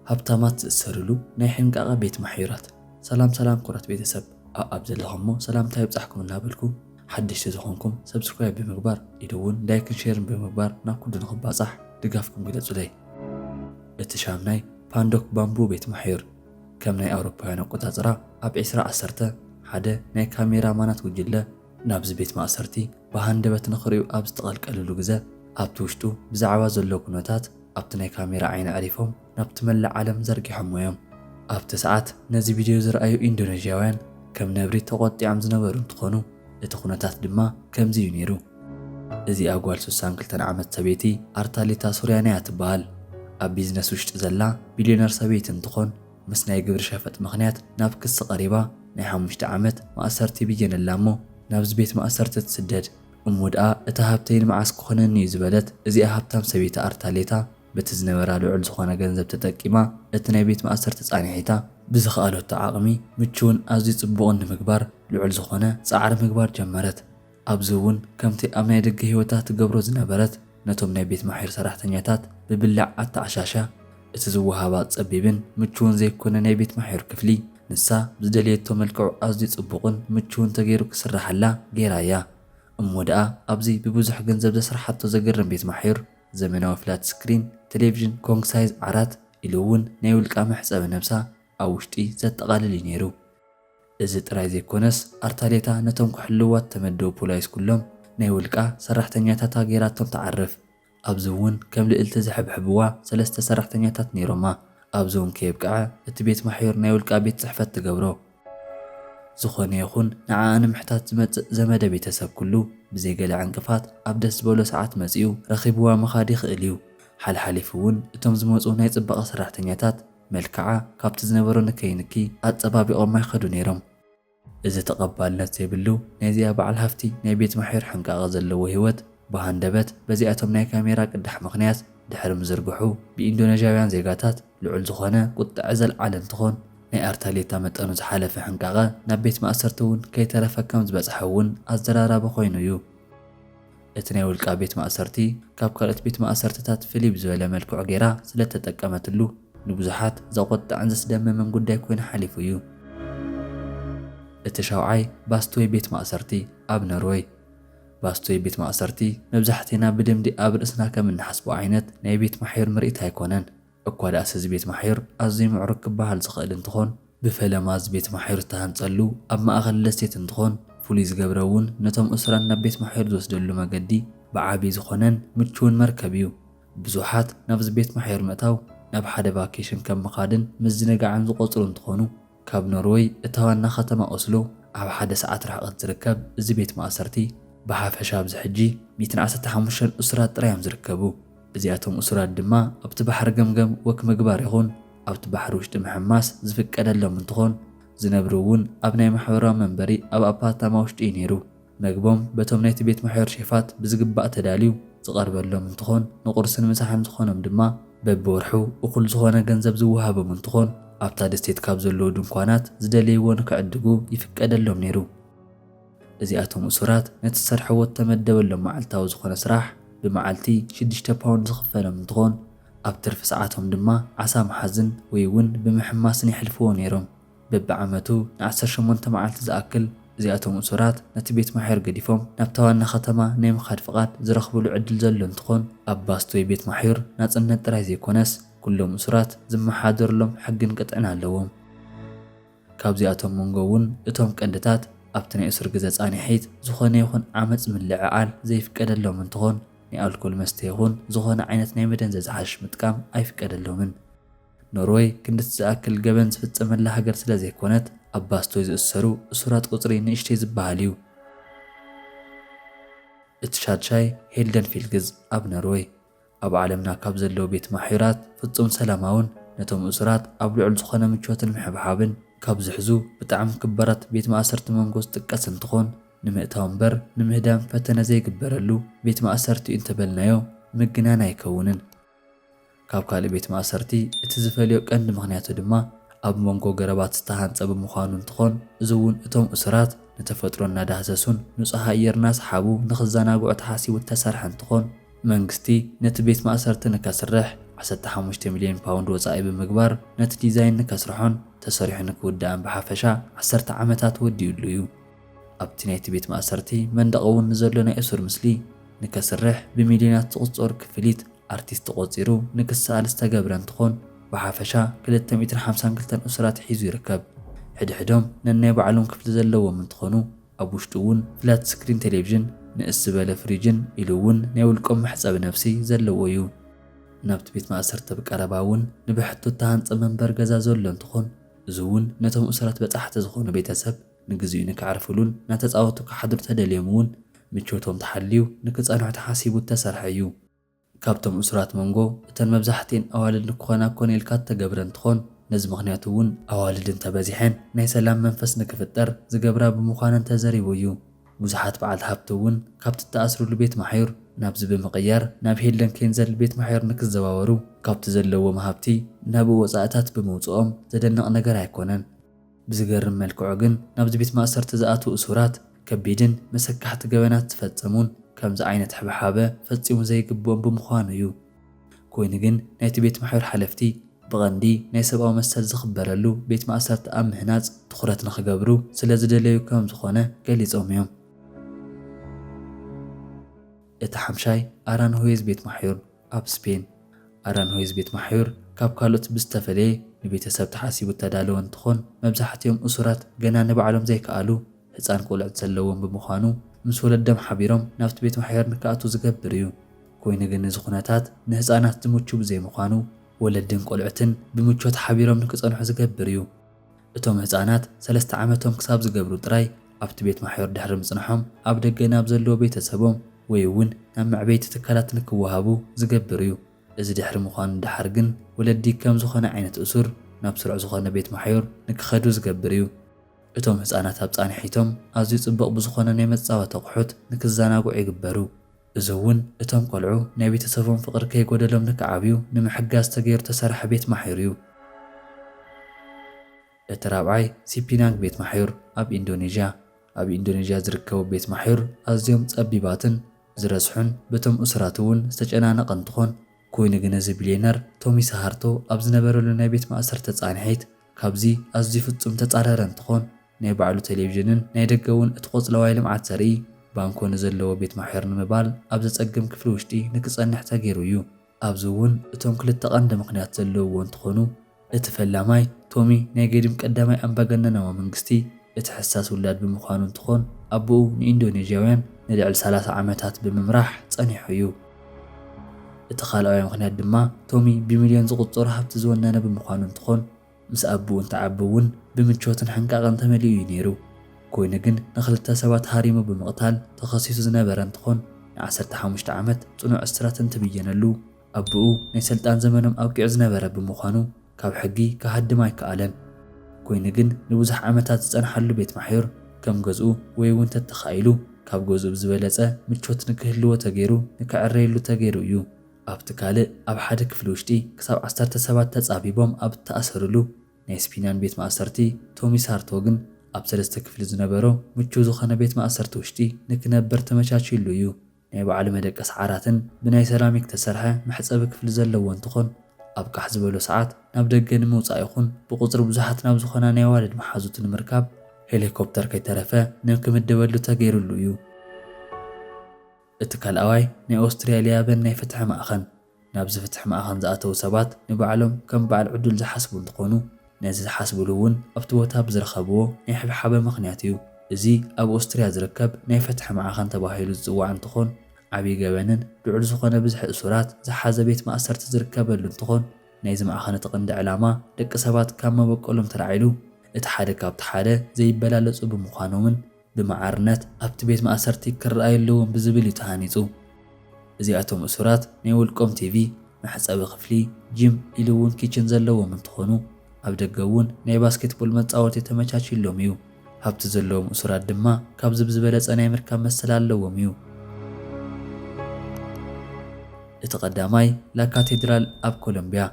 ሃብታማት ዝእሰርሉ ናይ ሕንቃቐ ቤት ማሕዩራት። ሰላም ሰላም ኩራት ቤተሰብ ኣኣብ ዘለኹሞ ሰላምታይ ይብጻሕኩም እናበልኩ ሓደሽቲ ዝኾንኩም subscribe ብምግባር ኢሉ ውን like ን share ን ብምግባር ናብ ኩሉ ንኽባጻሕ ድጋፍኩም ግለጹለይ እቲ ሻምናይ ፓንዶክ ባምቡ ቤት ማሕዩር ከም ናይ ኣውሮፓውያን ኣቆጻጽራ ኣብ ዕስራ ዓሰርተ ሓደ ናይ ካሜራ ማናት ጉጅለ ናብዚ ቤት ማእሰርቲ ብሃንደበት ንኽርእዩ ኣብ ዝተቐልቀልሉ ግዘ ኣብቲ ውሽጡ ብዛዕባ ዘሎ ኩነታት ኣብቲ ናይ ካሜራ ዓይኒ ኣዕሪፎም ናብቲ መላእ ዓለም ዘርጊሖሞ እዮም። ኣብቲ ሰዓት ነዚ ቪድዮ ዝረኣዩ ኢንዶነዥያውያን ከም ነብሪ ተቖጢዖም ዝነበሩ እንትኾኑ እቲ ኩነታት ድማ ከምዚ እዩ ነይሩ። እዚኣ ጓል ስሳን ክልተን ዓመት ሰበይቲ ኣርታሊታ ሱርያና እያ ትበሃል። ኣብ ቢዝነስ ውሽጢ ዘላ ቢልዮነር ሰበይቲ እንትኾን፣ ምስ ናይ ግብሪ ሸፈጥ ምኽንያት ናብ ክሲ ቀሪባ ናይ ሓሙሽተ ዓመት ማእሰርቲ ይብየነላ እሞ ናብዚ ቤት ማእሰርቲ ትስደድ። እሞ ድኣ እቲ ሃብተይ ንመዓስ ክኾነኒ እዩ ዝበለት እዚኣ ሃብታም ሰበይቲ ኣርታሌታ በቲ ዝነበራ ልዑል ዝኾነ ገንዘብ ተጠቂማ እቲ ናይ ቤት ማእሰርቲ ፃንሒታ ብዝኸኣለቶ ዓቕሚ ምቹውን ኣዝዩ ፅቡቕን ንምግባር ልዑል ዝኾነ ፃዕሪ ምግባር ጀመረት። ኣብዚ እውን ከምቲ ኣብ ናይ ደገ ህይወታ ትገብሮ ዝነበረት ነቶም ናይ ቤት ማሕዩር ሰራሕተኛታት ብብላዕ ኣተዓሻሻ እቲ ዝወሃባ ጸቢብን ምቹውን ዘይኮነ ናይ ቤት ማሕዩር ክፍሊ ንሳ ብዝደለየቶ መልክዑ ኣዝዩ ጽቡቕን ምቹውን ተገይሩ ክስራሓላ ገይራ እያ። እሞ ደኣ ኣብዚ ብብዙሕ ገንዘብ ዘስርሓቶ ዘገርም ቤት ማሕዩር ዘመናዊ ፍላት ስክሪን ተሌቭዥን ኮንግ ሳይዝ ዓራት ኢሉ እውን ናይ ውልቃ መሕጸቢ ነብሳ ኣብ ውሽጢ ዘጠቓልል እዩ ነይሩ። እዚ ጥራይ ዘይኮነስ ኣርታሌታ ነቶም ክሕልውዋ እተመደቡ ፖላይስ ኩሎም ናይ ውልቃ ሰራሕተኛታታ ገይራቶም ትዓርፍ። ኣብዚ እውን ከም ልእልቲ ዝሕብሕብዋ ሰለስተ ሰራሕተኛታት ነይሮማ። ኣብዚ እውን ከየብቅዐ እቲ ቤት ማሕዩር ናይ ውልቃ ቤት ጽሕፈት ትገብሮ። ዝኾነ ይኹን ንዓኣ ንምሕታት ዝመጽእ ዘመደ ቤተሰብ ኩሉ ብዘይ ገለ ዕንቅፋት ኣብ ደስ ዝበሎ ሰዓት መጺኡ ረኺብዋ ምኻድ ይኽእል እዩ። ሓልሓሊፉ እውን እቶም ዝመጹ ናይ ጽባቐ ሰራሕተኛታት፣ መልክዓ ካብቲ ዝነበሮ ንከይ ንኪ ኣጸባቢቖማ ይኸዱ ነይሮም። እዚ ተቐባልነት ዘይብሉ ናይዚኣ በዓል ሃፍቲ ናይ ቤት ማሕዩር ሕንቃቐ ዘለዎ ህይወት ብሃንደበት በዚኣቶም ናይ ካሜራ ቅዳሕ ምኽንያት ድሕሪ ምዝርግሑ ብኢንዶነዥያውያን ዜጋታት ልዑል ዝኾነ ቁጠዐ ዘልዓለ እንትኾን ናይ ኣርታሌታ መጠኑ ዝሓለፈ ሕንቃቐ ናብ ቤት ማእሰርቲ እውን ከይተረፈ ከም ዝበጽሐ እውን ኣዘራራቢ ኮይኑ እዩ። እቲ ናይ ውልቃ ቤት ማእሰርቲ ካብ ካልኦት ቤት ማእሰርትታት ፍልይ ብዝበለ መልክዑ ገይራ ስለእተጠቀመትሉ ንብዙሓት ዘቖጥዕን ዘስደምምን ጉዳይ ኮይኑ ሓሊፉ እዩ። እቲ ሻውዓይ ባስቶይ ቤት ማእሰርቲ ኣብ ኖርወይ። ባስቶይ ቤት ማእሰርቲ መብዛሕቴና ብልምዲ ኣብ ርእስና ከም እንሓስቦ ዓይነት ናይ ቤት ማሕዩር ምርኢት ኣይኮነን። እኳ ድኣስ እዚ ቤት ማሕዩር ኣዝዩ ምዕሩግ ክበሃል ዝኽእል እንትኾን ብፈለማ እዚ ቤት ማሕዩር ዝተሃንፀሉ ኣብ ማእኸል ደሴት እንትኾን ፍሉይ ዝገብረ እውን ነቶም እሱራን ናብ ቤት ማሕዩር ዝወስደሉ መገዲ ብዓብይ ዝኾነን ምችውን መርከብ እዩ። ብዙሓት ናብዚ ቤት ማሕዩር ምእታው ናብ ሓደ ቫኬሽን ከም ምኻድን ምዝንጋዕን ዝቖፅሩ እንትኾኑ ካብ ኖርወይ እታ ዋና ከተማ ኦስሎ ኣብ ሓደ ሰዓት ርሕቐት ዝርከብ እዚ ቤት ማእሰርቲ ብሓፈሻ ኣብዚ ሕጂ ሚእትን ዓሰርተ ሓሙሽተን እሱራት ጥራይ እዮም ዝርከቡ። እዚኣቶም እሱራት ድማ ኣብቲ ባሕሪ ገምገም ወክ ምግባር ይኹን ኣብቲ ባሕሪ ውሽጢ ምሕማስ ዝፍቀደሎም እንትኾን ዝነብርውን ኣብ ናይ ማሕበራዊ መንበሪ ኣብ ኣፓርታማ ውሽጢ እዩ ነይሩ። መግቦም በቶም ናይቲ ቤት ምሕር ሼፋት ብዝግባእ ተዳልዩ ዝቐርበሎም እንትኾን ንቑርስን ምሳሕን ዝኾኖም ድማ በቢወርሑ እኹል ዝኾነ ገንዘብ ዝወሃቦም እንትኾን ኣብታ ደሴት ካብ ዘለዉ ድንኳናት ዝደለይዎ ንክዕድጉ ይፍቀደሎም ነይሩ። እዚኣቶም እሱራት ነቲ ዝሰርሕዎ እተመደበሎም መዓልታዊ ዝኾነ ስራሕ ብመዓልቲ ሽዱሽተ ፓውንድ ዝኽፈሎም እንትኾን ኣብ ትርፊ ሰዓቶም ድማ ዓሳ ምሓዝን ወይ እውን ብምሕማስን የሕልፍዎ ነይሮም። በብዓመቱ ንዓሰርተ ሸሞንተ መዓልቲ ዝኣክል እዚኣቶም እሱራት ነቲ ቤት ማሕዩር ገዲፎም ናብታ ዋና ከተማ ናይ ምኻድ ፍቓድ ዝረኽብሉ ዕድል ዘሎ እንትኾን ኣብ ባስቶይ ቤት ማሕዩር ናፅነት ጥራይ ዘይኮነስ ኩሎም እሱራት ዝመሓደርሎም ሕግን ቅጥዕን ኣለዎም። ካብዚኣቶም መንጎ እውን እቶም ቀንድታት ኣብቲ ናይ እሱር ግዘ ፃኒሒት ዝኾነ ይኹን ዓመፅ ምልዕዓል ዘይፍቀደሎም እንትኾን ናይ ኣልኮል መስተ ይኹን ዝኾነ ዓይነት ናይ መደንዘዚ ሓሽሽ ምጥቃም ኣይፍቀደሎምን። ኖርወይ ክንድቲ ዝኣክል ገበን ዝፍጸመላ ሃገር ስለ ዘይኮነት፣ ኣብ ባስቶይ ዝእሰሩ እሱራት ቁጽሪ ንእሽተይ ዝበሃል እዩ። እቲ ሻድሻይ ሄልደን ፊልግዝ ኣብ ኖርወይ። ኣብ ዓለምና ካብ ዘለዉ ቤት ማሕዩራት ፍጹም ሰላማውን ነቶም እሱራት ኣብ ልዑል ዝኾነ ምቾትን ምሕብሓብን ካብ ዝሕዙ ብጣዕሚ ክባራት ቤት ማእሰርቲ መንጎ ዝጥቀስ እንትኾን ንምእታው እምበር ንምህዳም ፈተነ ዘይግበረሉ ቤት ማእሰርቲ'ዩ እንተበልናዮ ምግናን ኣይከውንን። ካብ ካልእ ቤት ማእሰርቲ እቲ ዝፈልዮ ቀንዲ ምኽንያቱ ድማ ኣብ ሞንጎ ገረባት ዝተሃንጸ ብምዃኑ እንትኾን እዚ'ውን እቶም እሱራት ንተፈጥሮ እናዳህሰሱን ንጹህ ኣየር እናሰሓቡ ንኽዘናግዑ ተሓሲቡ እተሰርሐ እንትኾን መንግስቲ ነቲ ቤት ማእሰርቲ ንከስርሕ ዓሰርተ ሓሙሽተ ሚልዮን ፓውንድ ወጻኢ ብምግባር ነቲ ዲዛይን ንከስርሖን ተሰሪሑ ንክውዳእን ብሓፈሻ ዓሰርተ ዓመታት ወዲኡሉ እዩ። ኣብቲ ናይቲ ቤት ማእሰርቲ መንደቕ እውን ንዘሎ ናይ እሱር ምስሊ ንከስርሕ ብሚልዮናት ዝቑጸሩ ክፍሊት ኣርቲስት ተቖጺሩ ንክሰኣል ዝተገብረ እንትኾን ብሓፈሻ ክልተ ሚእትን ሓምሳን ክልተን እሱራት ሒዙ ይርከብ። ሕድሕዶም ነናይ ባዕሎም ክፍሊ ዘለዎም እንትኾኑ ኣብ ውሽጡ እውን ፍላት ስክሪን ቴሌቭዥን፣ ንእስ ዝበለ ፍሪጅን ኢሉ እውን ናይ ውልቆም መሕጸቢ ነብሲ ዘለዎ እዩ። ናብቲ ቤት ማእሰርቲ ኣብ ቀረባ እውን ንብሕቶ እተሃንጸ መንበሪ ገዛ ዘሎ እንትኾን እዚ እውን ነቶም እሱራት በጻሕቲ ዝኾኑ ቤተሰብ፣ ንግዚኡ ንከዕርፍሉን እና ተጻወቱ ክሓድሩ ተደልዮም እውን ምቾቶም ተሓልዩ ንክጸንሑ ተሓሲቡ እተሰርሐ እዩ። ካብቶም እሱራት መንጎ እተን መብዛሕትኤን ኣዋልድ ንክኾና ኮነ ኢልካ እተገብረ እንትኾን ነዚ ምኽንያት እውን ኣዋልድ እንተበዚሐን ናይ ሰላም መንፈስ ንክፍጠር ዝገብራ ብምዃነን ተዘሪቡ እዩ። ብዙሓት በዓልቲ ሃብቲ እውን ካብቲ እተኣስርሉ ቤት ማሕዩር ናብዚ ብምቕያር ናብ ሄልደን ኬንዘል ቤት ማሕዩር ንክዘዋወሩ ካብቲ ዘለዎም ሃብቲ ናብኡ ወጻኢታት ብምውጽኦም ዘደንቕ ነገር ኣይኮነን። ብዝገርም መልክዑ ግን ናብዚ ቤት ማእሰርቲ ዝኣትዉ እሱራት ከቢድን መሰካሕቲ ገበናት ዝፈጸሙን ከምዚ ዓይነት ሕብሓበ ፈጺሙ ዘይግብኦም ብምዃኑ እዩ። ኮይኑ ግን ናይቲ ቤት ማሕዩር ሓለፍቲ ብቐንዲ ናይ ሰብኣዊ መሰል ዝኽበረሉ ቤት ማእሰርቲ ኣብ ምህናጽ ትኹረት ንኽገብሩ ስለ ዝደለዩ ከም ዝኾነ ገሊጾም እዮም። እቲ ሓምሻይ ኣራንሁዌዝ ቤት ማሕዩር፣ ኣብ ስፔን፣ ኣራንሆይዝ ቤት ማሕዩር ካብ ካልኦት ብዝተፈለየ ንቤተሰብ ተሓሲቡ እተዳለወ እንትኾን፣ መብዛሕቲኦም እሱራት ገና ንባዕሎም ዘይከኣሉ ህፃን ቆልዑት ዘለዎም ብምዃኑ ምስ ወለዶም ሓቢሮም ናብቲ ቤት ማሕዩር ንክኣትዉ ዝገብር እዩ። ኮይኑ ግን እዚ ኩነታት ንህፃናት ዝምቹ ብዘይምዃኑ ወለድን ቆልዑትን ብምቾት ሓቢሮም ንክፀንሑ ዝገብር እዩ። እቶም ህጻናት ሰለስተ ዓመቶም ክሳብ ዝገብሩ ጥራይ ኣብቲ ቤት ማሕዮር ድሕሪ ምጽንሖም ኣብ ደገ ናብ ዘለዎ ቤተሰቦም ወይ'ውን ናብ መዕበይቲ ትካላት ንክወሃቡ ዝገብር እዩ። እዚ ድሕሪ ምዃኑ ደሓር ግን ወለዲ ከም ዝኾነ ዓይነት እሱር ናብ ስሩዕ ዝኾነ ቤት ማሕዮር ንክኸዱ ዝገብር እዩ። እቶም ህጻናት ኣብ ጻንሒቶም ኣዝዩ ጽቡቕ ብዝኾነ ናይ መጻወቲ ኣቑሑት ንክዘናግዑ ይግበሩ። እዚ እውን እቶም ቆልዑ ናይ ቤተሰቦም ፍቕሪ ከይጎደሎም ንክዓብዩ ንምሕጋዝ ተገይሩ ዝተሰርሐ ቤት ማሕዩር እዩ። እቲ ራብዓይ ሲፒናንግ ቤት ማሕዩር ኣብ ኢንዶኔዥያ። ኣብ ኢንዶኔዥያ ዝርከቡ ቤት ማሕዩር ኣዝዮም ጸቢባትን ዝረስሑን በቶም እሱራት እውን ዝተጨናነቐ እንትኾን፣ ኮይኑ ግን እዚ ቢልዮነር ቶሚ ሰሃርቶ ኣብ ዝነበረሉ ናይ ቤት ማእሰርቲ ተጻንሒት ካብዚ ኣዝዩ ፍጹም ዝተጻረረ እንትኾን፣ ናይ ባዕሉ ቴሌቪዥንን ናይ ደገ እውን እቲ ቆፅለዋይ ልምዓት ዘርኢ ባንኮ ንዘለዎ ቤት ማሕዩር ንምባል ኣብ ዘፀግም ክፍሊ ውሽጢ ንክፀንሕ ተገይሩ እዩ። ኣብዚ እውን እቶም ክልተ ቀንዲ ምኽንያት ዘለውዎ እንትኾኑ፣ እቲ ፈላማይ ቶሚ ናይ ገዲም ቀዳማይ ኣምባገነናዊ መንግስቲ እቲ ሕሳስ ውላድ ብምዃኑ እንትኾን ኣቦኡ ንኢንዶኔዥያውያን ንልዕሊ ሰላሳ ዓመታት ብምምራሕ ፀኒሑ እዩ። እቲ ካልኣዋይ ምኽንያት ድማ ቶሚ ብሚልዮን ዝቑፀሩ ሃብቲ ዝወነነ ብምዃኑ እንትኾን፣ ምስ ኣቡኡ እንትዓቢ እውን ብምቾትን ሕንቃቐን ተመሊኡ እዩ ነይሩ። ኮይኑ ግን ንኽልተ ሰባት ሃሪሙ ብምቕታል ተኸሲሱ ዝነበረ እንትኾን ንዓሰርተ ሓሙሽተ ዓመት ፅኑዕ እስራት እንትብየነሉ ኣቡኡ ናይ ሰልጣን ዘመኖም ኣብቂዑ ዝነበረ ብምዃኑ ካብ ሕጊ ክሃድም ኣይከኣለን። ኮይኑ ግን ንብዙሕ ዓመታት ዝፀንሓሉ ቤት ማሕዩር ከም ገዝኡ ወይ እውን ተተኻኢሉ ካብ ገዝኡ ብዝበለፀ ምቾት ንክህልዎ ተገይሩ ንክዕረየሉ ተገይሩ እዩ። ኣብቲ ካልእ ኣብ ሓደ ክፍሊ ውሽጢ ክሳብ ዓሰርተ ሰባት ተጻቢቦም ኣብ እተኣሰርሉ ናይ ስፒንያን ቤት ማእሰርቲ፣ ቶሚ ሳርቶግን ኣብ ሰለስተ ክፍሊ ዝነበሮ ምቹው ዝኾነ ቤት ማእሰርቲ ውሽጢ ንክነበር ተመቻችዩሉ እዩ። ናይ ባዕሉ መደቀሲ ዓራትን ብናይ ሰራሚክ እተሰርሐ መሕጸቢ ክፍሊ ዘለዎ እንትኾን፣ ኣብ ቃሕ ዝበሎ ሰዓት ናብ ደገ ንምውጻእ ይኹን ብቁጽሪ ብዙሓት ናብ ዝኾና ናይ ኣዋልድ መሓዙቱ ንምርካብ ሄሊኮፕተር ከይተረፈ ንክምደበሉ ተገይሩሉ እዩ። እቲ ካልኣዋይ ናይ ኦስትሪያልያ በን ናይ ፍትሒ ማእኸን፣ ናብዚ ፍትሒ ማእኸን ዝኣተው ሰባት ንባዕሎም ከም ባዓል ዕዱል ዝሓስቡ እንትኾኑ ነዚ ዝሓስብሉ እውን ኣብቲ ቦታ ብዝረኸብዎ ናይ ሕብሓበ ምኽንያት እዩ። እዚ ኣብ ኦስትሪያ ዝርከብ ናይ ፍትሒ ማዕኸን ተባሂሉ ዝፅዋዕ እንትኾን ዓብይ ገበንን ልዑል ዝኾነ ብዝሒ እሱራት ዝሓዘ ቤት ማእሰርቲ ዝርከበሉ እንትኾን ናይዚ ማዕኸን እቲ ቕንዲ ዕላማ ደቂ ሰባት ካብ መበቆሎም ተላዒሉ እቲ ሓደ ካብቲ ሓደ ዘይበላለፁ ብምዃኖምን ብማዕርነት ኣብቲ ቤት ማእሰርቲ ክረኣዩ ኣለዎም ብዝብል እዩ ተሃኒጹ። እዚኣቶም እሱራት ናይ ውልቆም ቲቪ፣ መሕጸቢ ክፍሊ፣ ጂም ኢሉ እውን ኪችን ዘለዎም እንትኾኑ ኣብ ደገ እውን ናይ ባስኬትቦል መጻወቲ ተመቻችዩሎም እዩ። ሃብቲ ዘለዎም እሱራት ድማ ካብዚ ብዝበለጸ ናይ ምርካብ መሰል ኣለዎም እዩ። እቲ ቀዳማይ ላካቴድራል ኣብ ኮሎምቢያ።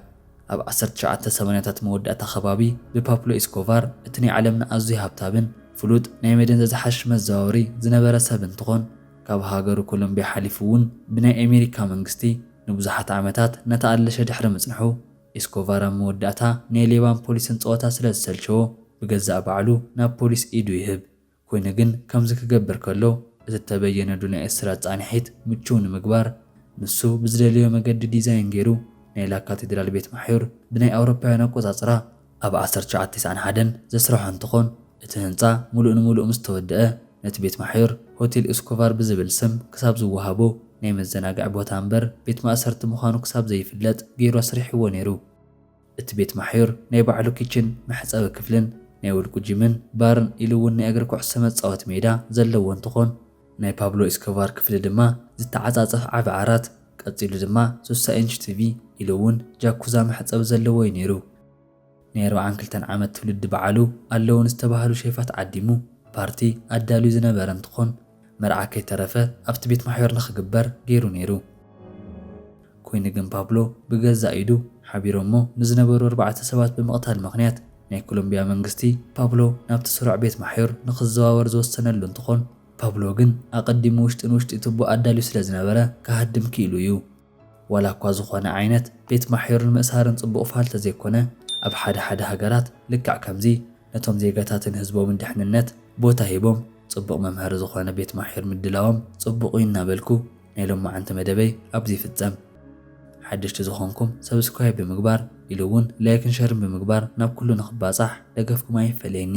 ኣብ ዓሰርተ ትሽዓተ ሰማንያታት መወዳእታ ከባቢ ብፓፕሎ ኤስኮቫር እቲ ናይ ዓለምና ኣዝዩ ሃብታብን ፍሉጥ ናይ መደንዘዚ ሓሽሽ መዘዋወሪ ዝነበረ ሰብ እንትኾን ካብ ሃገሩ ኮሎምቢያ ሓሊፉ እውን ብናይ ኤሜሪካ መንግስቲ ንብዙሓት ዓመታት እናተኣለሸ ድሕሪ ምፅንሑ ኤስኮቫር ኣብ መወዳእታ ናይ ሌባን ፖሊስን ፀወታ ስለዝሰልቸዎ ብገዛእ ባዕሉ ናብ ፖሊስ ኢዱ ይህብ። ኮይኑ ግን ከምዚ ክገብር ከሎ እቲ እተበየነዱ ናይ እስራት ጻንሒት ምቹው ንምግባር ንሱ ብዝደለዮ መገዲ ዲዛይን ገይሩ ናይ ላ ካቴድራል ቤት ማሕዩር ብናይ ኣውሮፓውያን ኣቆጻጽራ ኣብ ዓሰርተ ትሽዓተ ቴስዓን ሓደን ዘስርሖ እንትኾን እቲ ህንጻ ሙሉእ ንሙሉእ ምስ ተወደኣ ነቲ ቤት ማሕዩር ሆቴል እስኮቫር ብዝብል ስም ክሳብ ዝወሃቦ ናይ መዘናግዒ ቦታ እምበር ቤት ማእሰርቲ ምዃኑ ክሳብ ዘይፍለጥ ገይሩ ኣስሪሕዎ ነይሩ። እቲ ቤት ማሕዩር ናይ ባዕሉ ኪችን፣ መሕጸቢ ክፍልን ናይ ውልቁ ጂምን ባርን ኢሉ እውን ናይ እግሪ ኩዕሶ መጻወቲ ሜዳ ዘለዎ እንትኾን ናይ ፓብሎ ኤስኮቫር ክፍሊ ድማ ዝተዓጻጸፍ ዓቢ ዓራት ቀጺሉ ድማ ስሳ ኢንች ቲቪ ኢሉ እውን ጃኩዛ መሕጸቢ ዘለዎ እዩ ነይሩ። ናይ ኣርብዓን ክልተን ዓመት ትውልዲ በዓሉ ኣለዉ ንዝተባህሉ ሼፋት ዓዲሙ ፓርቲ ኣዳልዩ ዝነበረ እንትኾን፣ መርዓ ከይተረፈ ኣብቲ ቤት ማሕበር ንኽግበር ገይሩ ነይሩ። ኰይኑ ግን ፓብሎ ብገዛእ ኢዱ ሓቢሮሞ ንዝነበሩ ኣርባዕተ ሰባት ብምቕታል ምኽንያት ናይ ኮሎምብያ መንግስቲ ፓብሎ ናብቲ ስሩዕ ቤት ማሕዮር ንኽዘዋወር ዝወሰነሉ እንትኾን ፓብሎ ግን ኣቐዲሙ ውሽጢ ንውሽጢ ትቦ ኣዳልዩ ስለዝነበረ ክሃድም ክኢሉ እዩ። ዋላ እኳ ዝኾነ ዓይነት ቤት ማሕዩርን ምእሳርን ጽቡቕ ፋል ተዘይኮነ፣ ኣብ ሓደ ሓደ ሃገራት ልክዕ ከምዚ ነቶም ዜጋታትን ህዝቦምን ድሕንነት ቦታ ሂቦም ጽቡቕ መምሀሪ ዝኾነ ቤት ማሕዩር ምድላዎም ጽቡቕ እዩ እናበልኩ ናይ ሎማዕንቲ መደበይ ኣብዚ ይፍጸም። ሓደሽቲ ዝኾንኩም ሰብስክራይብ ብምግባር ኢሉ ውን ላይክን ሸርን ብምግባር ናብ ኩሉ ንኽባጻሕ ደገፍኩም ኣይፈለየኒ።